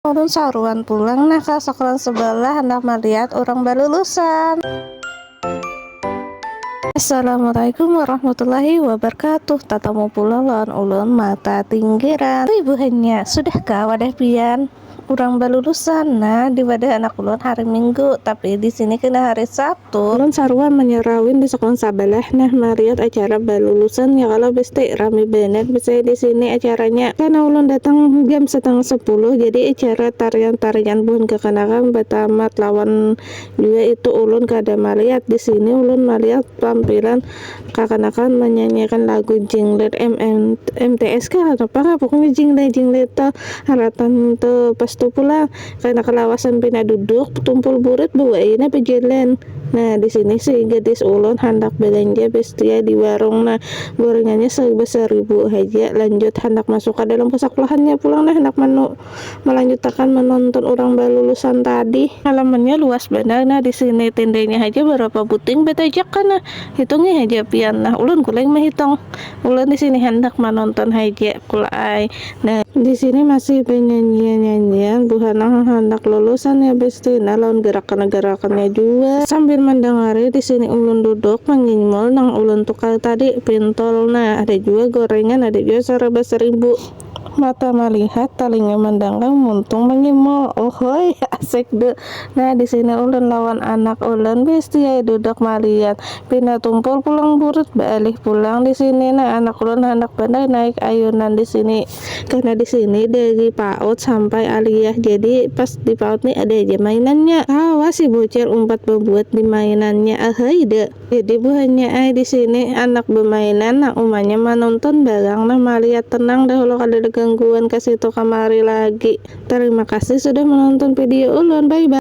Ulun saruan pulang nah ka saklan sebelah handak malihat urang balulusan. Assalamualaikum warahmatullahi wabarkatuh tatamu pulang lawan ulun mata tinggiran ui buhannya sudah kah wadah pian urang balulusan nah di wadah anak ulun hari minggu tapi di sini kena hari sab. tu. Ulun saruan manyarawin di sakulah sabalah nah mariat acara balulusan ya kalo besti, rami banar bisai di sini acaranya karna ulun datang jam satangah sapuluh jadi acara tarian-tarian buhan kakanakan batamat lawan jua itu ulun kada maliat di sini ulun maliat tampilan kakanakan manyanyiakan lagu jinglet MTS kah atau apa kah pokoknya jinglet-jinglet tu harapan tu pas tu pulang. Karena kalawasan pina duduk, tumpul burit buaina bajalan. Nah, di sini si gadis ulun handak balanja bestia di warung. Nah, gorengannya sarba saribu haja. Lanjut handak masuk ka dalam kasakulahannya pulang nah handak malanjutakan manonton urang balulusan tadi. Halamannya luas banar nah di sini, tendanya haja barapa buting batajakan nah. Hitungi haja pian nah, ulun kuling mahitong. Ulun di sini handak manonton haja kula ai nah. Di sini masih banyanyian-nyanyian buhana nang handak lulusan ya besti nah lawan garakan-garakannya jua. Sambil mandangari di sini ulun duduk manyinyul nang ulun tukar tadi, pintol nah ada jua gorengan ada jua saraba saribu. Mata malihat, talinga mandanggang, muntung mangimul. Uhuy, asik du. Nah, di sini ulun lawan anak ulun bisti ai duduk malihat. Pina tumpul pulang burit baalih pulang di sini. Nah, anak ulun handak banar naik ayunan di sini. Karena di sini dari paut sampai aliyah, jadi pas di paut ni ada haja mainannya. Kawa si Bucil umpat babuat di mainannya. Uhuy, du. Jadi buhannya ai di sini anak bemainan nang umanya manonton barang nah malihat tenang dah lo kadada gangguan kasitu kamari lagi. Tarima kasih sudah menonton video ulun bye bye.